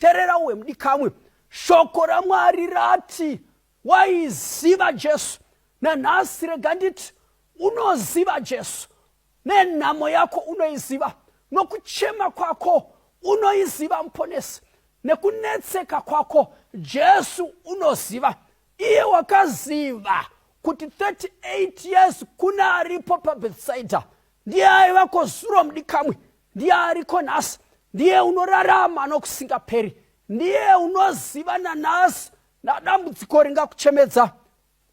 terera uwe mudikamwe shoko ramwari rati waiziva jesu nanhasi rega nditi unoziva jesu nenhamo yako unoiziva nokuchema kwako unoiziva muponesi nekunetseka kwako jesu unoziva iye wakaziva kuti 38 years kuna aripo pabetsaida ndiye aiva kozuro mudikamwe ndiye ariko nhasi ndiye unorarama nokusingaperi ndiye unoziva nanhasi nadambudziko ringakuchemedza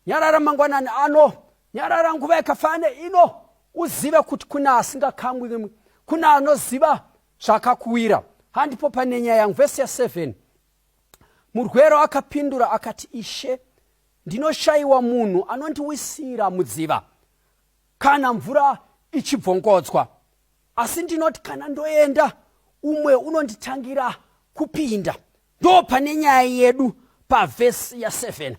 nyarara mangwanani ano nyarara nguva yakafane ino uzive kuti kune asingakangwi kune anoziva zvakakuwira handipo pane nyaya yangu vhesi ya 7 murwero akapindura akati ishe ndinoshayiwa munhu anondiwisira mudziva kana mvura ichibvongodzwa asi ndinoti kana ndoenda umwe unonditangira kupinda ndo pane nyaya yedu pavhesi ya7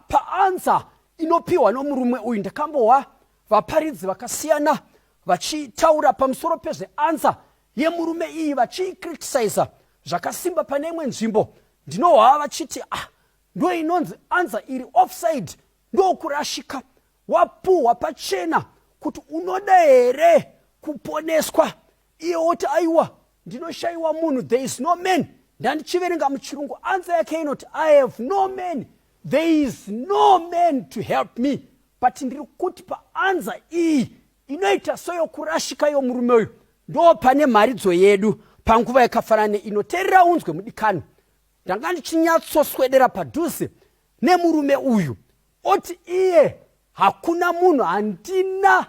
paansa pa inopiwa nomurume uyu ndakambohwa vaparidzi vakasiyana vachitaura pamusoro pezveansa yemurume iyi vachiicriticisa zvakasimba pane imwe nzvimbo ndinohwa vachiti ah ndoinonzi ansa iri offside ndokurashika Wapuhwa pachena kuti unoda here kuponeswa iye woti aiwa ndinoshaiwa munhu there is no man ndandichiverenga muchirungu ansa yake inoti i have no man there is no man to help me but ndiri kuti paanza iyi inoita soyokurashika yomurume uyu ndo pane mharidzo yedu panguva yakafanana neino terera unzwe mudikani ndanga ndichinyatsoswedera padhuze nemurume uyu oti iye hakuna munhu handina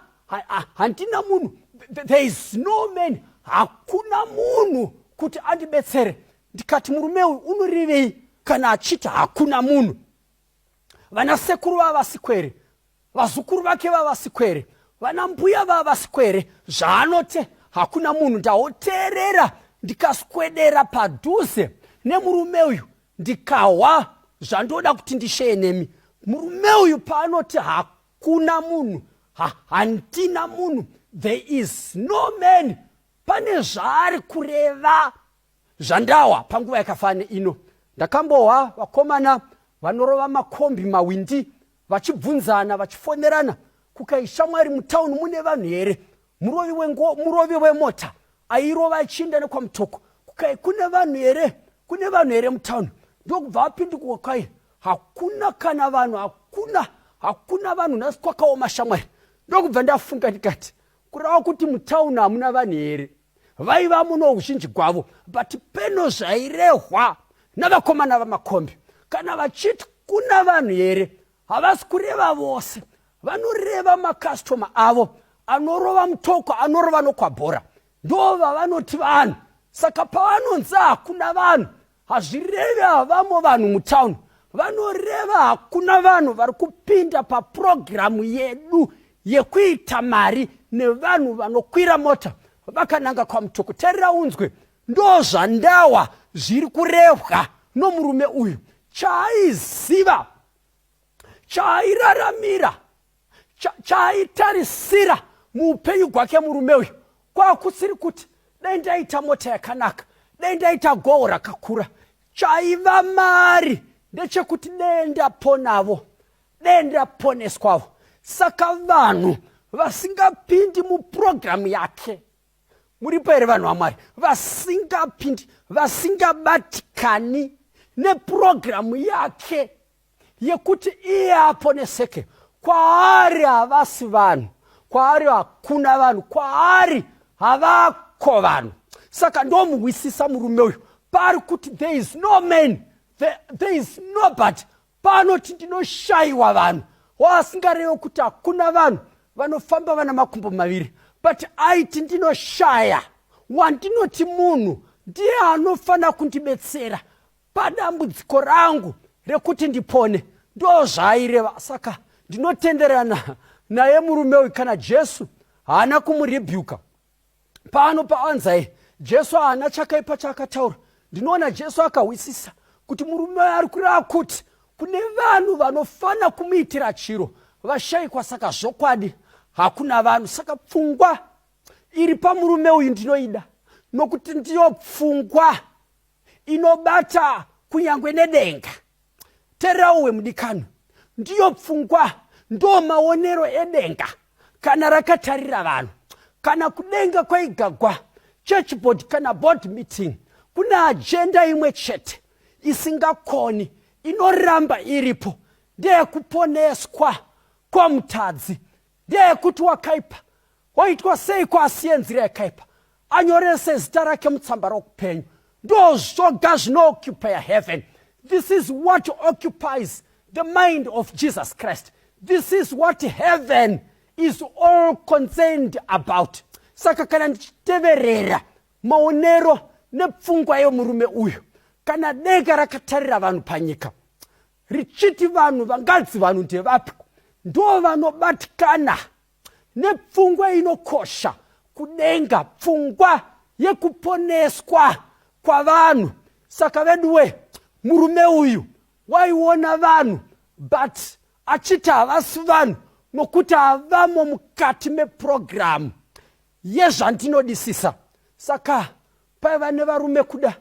handina munhu there is no man hakuna munhu kuti andibetsere ndikati murume uyu unorevei kana achiti hakuna munhu vana sekuru vava vasikwere vazukuru vake vava vasikwere vana mbuya vava vasikwere zvaanote hakuna munhu ndaoteerera ndikaswedera padhuze nemurume uyu ndikahwa zvandoda kuti ndisheye nemi murume uyu paanoti hakuna munhu ha, handina munhu there is no man pane zvaari kureva zvandawa panguva yakafane ino ndakambohwa vakomana vanorova makombi mawindi vachibvunzana vachifonerana kukaishamwari mutauni mune vanhu here murovi wengo murovi wemota airova achiinda nekwamutoko kukai kune vanhu here kune vanhu here mutown ndokubva apindikuka kwai hakuna kana vanhu hakuna hakuna vanhu nhasi kwakaoma shamwari ndokubva ndafunga ndikati kurava kuti mutown hamuna vanhu here vaiva muno uzhinji gwavo but peno zvairehwa navakomana vamakombi kana vachiti kuna vanhu here havasi kureva vose vanoreva makastoma avo anorova mutoko anorova nokwabhora ndo vavanoti vanhu saka pavanonzi hakuna vanhu hazvirevi havamo vanhu mutown vanoreva hakuna vanhu vari kupinda papurogiramu yedu yekuita mari nevanhu vanokwira mota vakananga kwamutoko tarira unzwe Ndozvandawa zviri kurehwa nomurume uyu chaaiziva chaairaramira chaaitarisira cha muupenyu gwake murume uyu kwakusiri kuti dai ndaita mota yakanaka dai ndaita goho rakakura chaiva mari ndechekuti dee ndaponavo dee ndaponeswavo saka vanhu vasingapindi mupurogiramu yake muripo here vanhu vamwari vasingapindi vasingabatikani nepurogiramu yake yekuti iye aponeseke kwaari havasi vanhu kwaari hakuna vanhu kwaari havako vanhu saka ndomuhwisisa murume uyu paari kuti there is no man there, there is nobody paanoti ndinoshaiwa vanhu waasingarevo kuti hakuna vanhu vanofamba vana makumbo maviri but aiti ndinoshaya wandinoti munhu ndiye anofanira kundibetsera padambudziko rangu rekuti ndipone ndo zvaaireva saka ndinotenderana naye murume uyu kana jesu haana kumurebhuka pano paanzai jesu haana chakaipa chaakataura ndinoona jesu akahwisisa kuti murume ari kureva kuti kune vanhu vanofanira kumuitira chiro vashaikwa saka zvokwadi hakuna vanhu saka pfungwa iri pamurume uyu ndinoida nokuti ndiyo pfungwa inobata kunyange nedenga tererawo wemudikano ndiyo pfungwa ndo maonero edenga kana rakatarira vanhu kana kudenga kwaigagwa churchboard kana board meeting kune ajenda imwe chete isingakoni inoramba iripo ndeyekuponeswa kwamutadzi ndeyekuti wakaipa Oitwa seiko asiye nzira yakaipa anyorese zita rake mutsamba rokupenyu ndozvoga zvinooccupier heaven this is what occupies the mind of jesus christ this is what heaven is all concerned about saka kana ndichiteverera maonero nepfungwa yemurume uyu kana denga rakatarira vanhu panyika richiti vanhu vangadzi vanhu ndevapiko ndo vanobatikana Nepfungwa inokosha kudenga, pfungwa yekuponeswa kwavanhu. Saka veduwe, murume uyu waiona vanhu but achiti havasi vanhu nokuti havamo mukati mepurogiramu yezvandinodisisa. Saka paiva nevarume kuda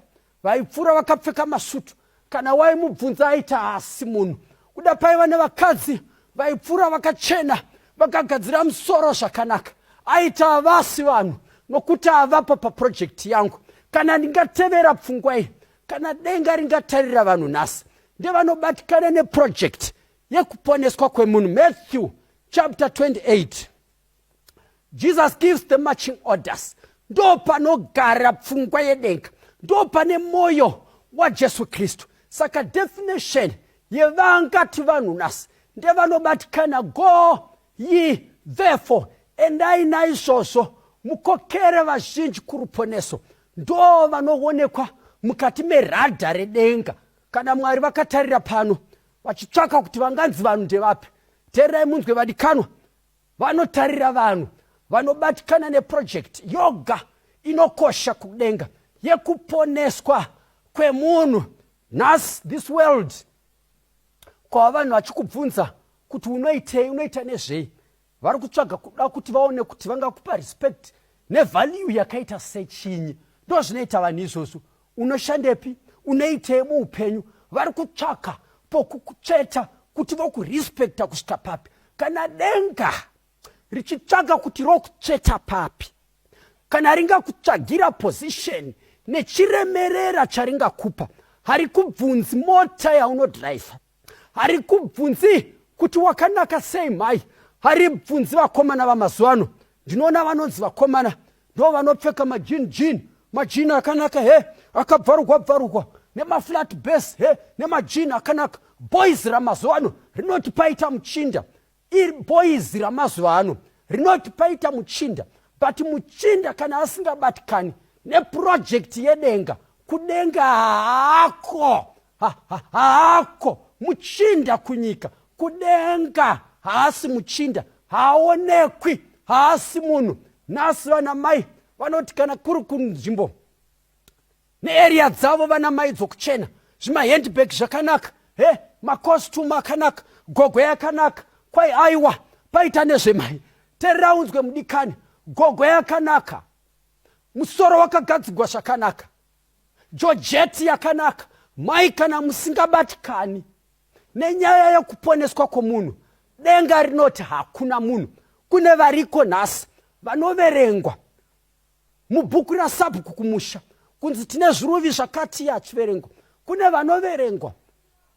vaipfuura vakapfeka masutu kana waimubvunza aita haasi munhu kuda paiva nevakadzi vaipfuura vakachena vakagadzira musoro zvakanaka aita havasi vanhu nokuti havapo paprojekti yangu kana ndingatevera pfungwa iyi kana denga ringatarira vanhu nhasi ndevanobatikana neprojekti yekuponeswa kwemunhu matthew chapter 28 jesus gives the marching orders ndo panogara pfungwa yedenga ndo pane mwoyo wajesu kristu saka definition yevangati vanhu nhasi ndevanobatikana go ye therefore endai naizvozvo mukokere vazhinji kuruponeso ndo vanoonekwa mukati meradha redenga kana mwari vakatarira pano vachitsvaka kuti vanganzi vanhu ndevapi teererai munzwe vadikanwa Vanotarira vanhu vanobatikana neprojekti yoga inokosha kudenga yekuponeswa kwemunhu nhasi this world kwava vanhu vachikubvunza kuti unoitei unoita nezvei vari kutsvaga kuda kuti vaone kuti vangakupa respect nevalue yakaita sechinyi ndo zvinoita vanhu izvozvo unoshandepi unoitei muupenyu vari kutsvaka pokukutsveta kuti vokurespekta kusvika papi kana denga richitsvaga kuti rokutsveta papi kana ringakutsvagira position nechiremerera charingakupa harikubvunzi mota yaunodhiraivha hari kubvunzi kuti wakanaka sei mhai hari bvunzi vakomana vamazuva ano ndinoona vanonzi vakomana ndo vanopfeka majin jin majin akanaka he akabvarugwa bvarugwa nemaflat bas he nemajin akanaka boys ramazuva ano rinoti paita muchinda Iri boys ramazuva ano rinoti paita muchinda but muchinda kana asingabatikani neprojekti yedenga kudenga haako haako muchinda kunyika kudenga haasi muchinda haaonekwi haasi munhu nhasi vana mai vanoti kana kuri kunzvimbo nearea dzavo vana mai dzokuchena zvimahandbag zvakanaka he macostume akanaka gogo yakanaka kwai aiwa paita nezvemai teraunzwe mudikani gogo yakanaka musoro wakagadzigwa zvakanaka jojeti yakanaka mai kana musingabatikani nenyaya yekuponeswa kwomunhu denga rinoti hakuna munhu kune variko nhasi vanoverengwa Mubhuku raSabhuku kumusha kunzi tine zviruvi zvakati achiverengwa kune vanoverengwa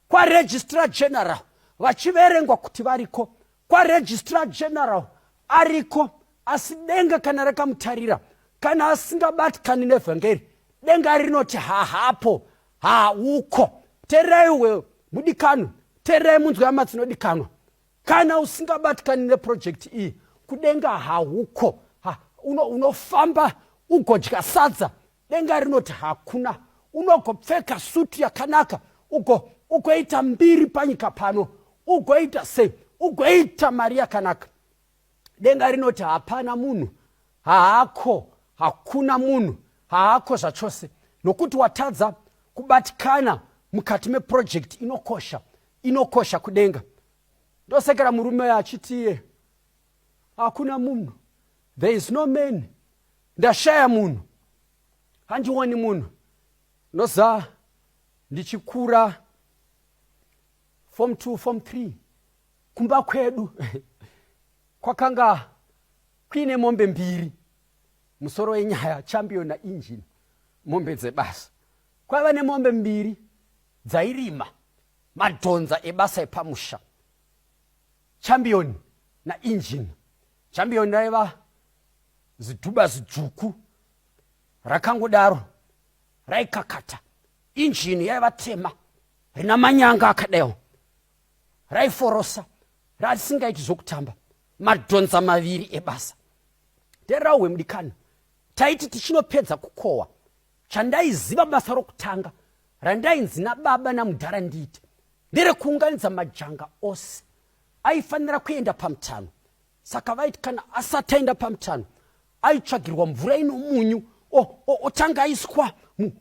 kwaregistra general vachiverengwa kuti variko kwaregistra general ariko asi denga kana rakamutarira kana asingabatikani nevhangeri denga rinoti hahapo hauko tererai we mudikano tererai munzwa yamatsino dikanwa kana usingabatikani neprojekti iyi kudenga hauko ha, uno, unofamba ugodya sadza denga rinoti hakuna unogopfeka suti yakanaka ugo ugoita mbiri panyika pano ugoita sei ugoita mari yakanaka denga rinoti hapana munhu haako hakuna munhu haako zvachose nokuti watadza kubatikana mukati meprojekti inokosha inokosha kudenga ndosekera murume uyo achiti iye hakuna munhu there is no man ndashaya munhu handioni munhu ndoza ndichikura form 2 form 3 kumba kwedu kwakanga kuine mombe mbiri musoro wenyaya champion nainjini mombe dzebasa kwaiva nemombe mbiri dzairima madhonza ebasa epamusha chambioni nainjini chambioni raiva zidhuba zidzvuku rakangodaro raikakata injini yaiva tema rina manyanga akadaiwo raiforosa raisingaiti zvokutamba madhonza maviri ebasa nderauwe mudikani taiti tichinopedza kukohwa Chandaiziva basa rokutanga randainzi nababa namudhara ndiite nderekuunganidza majanga ose aifanira kuenda pamutano saka vaiti kana asati aenda pamutano aitsvagirwa mvura ino munyu otanga aiswa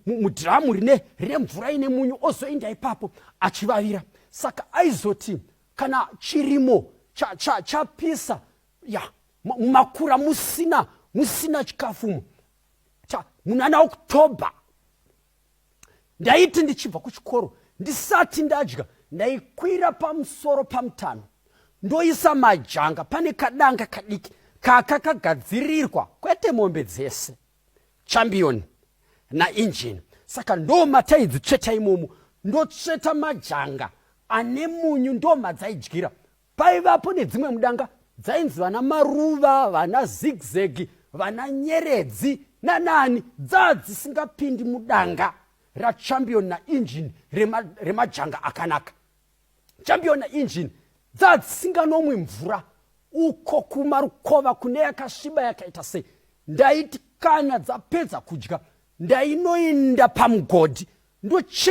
mudhiramu rine rine mvura ine munyu ozoenda ipapo achivavira saka aizoti kana chirimo chapisa cha, cha ya mumakura musina musina chikafumo munana october ndaiti ndichibva kuchikoro ndisati ndadya ndaikwira pamusoro pamutano ndoisa majanga pane kadanga kadiki kaka kagadzirirwa kwete mombe dzese chambioni nainjini saka ndo mataidzi tsveta imomo ndotsveta majanga ane munyu ndo madzaidyira Paivapo nedzimwe mudanga dzainzi vana maruva, vana zigzegi, vana nyeredzi nanani dzaa dzisingapindi mudanga rachampion nainjini remajanga rema akanaka. Champion nainjini dzaa dzisinganomwi mvura uko kumarukova kune yakasviba yakaita sei ndaiti kana dzapedza kudya ndainoinda pamugodhi ndochera